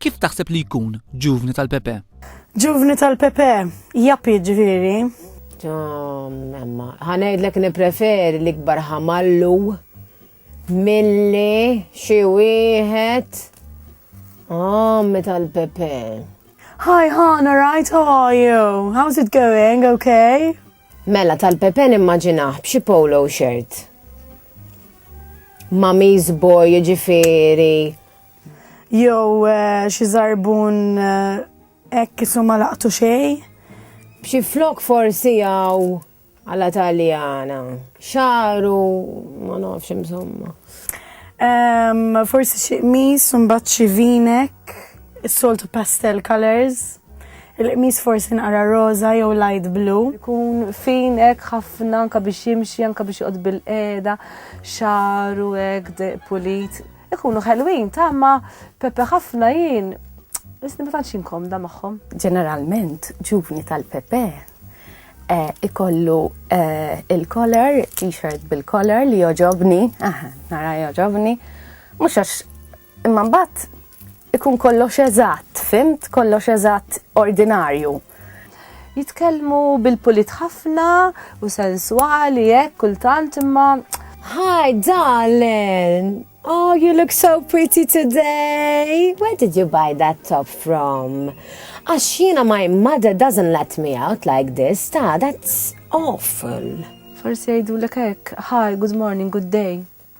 Kif taħseb li jkun ġuvni tal-Pepe? Ġuvni tal-Pepe, jappi ġviri. Emma, ħanajdlek nipreferi l-ikbar ħamallu milli xi wieħed għammi tal-Pepe. Hi, Han, alright, how are you? How's it going, okay? Mela tal-Pepe nimmaġinaħ b'xi polo shirt. Mami's boy ġifiri Jew eh, xi żarbun eh, hekk isu ma laqtu xejn. B'xi flok forsi għaw għala taljana. Xaru, ma nafx insomma. Um, forsi xi qmis, mbagħad xi vinek, is-soltu pastel colors. Il-qmis forsi nqara roza jew light blue. Ikun fin hekk ħafna anka biex jimxi, anka biex joqgħod bil-qeda, xaru hekk pulit. Ikunu ħelwin ta' ma Pepe ħafna jien. Isni ma tantx inkomda magħhom. Ġeneralment ġuvni tal-Pepe eh, ikollu eh, il-collar, t-shirt bil-collar li joġobni, nara joġobni, mhux għax imma mbagħad Ikun kollox eżatt, fimt? Kollox eżatt ordinarju. Jitkellmu bil-pulit ħafna u sensuali hekk kultant imma Hi darling, oh you look so pretty today. Where did you buy that top from? Għax jiena my mother doesn't let me out like this, ta' that's awful. Forsi jgħidulek hekk, hi, good morning, good day.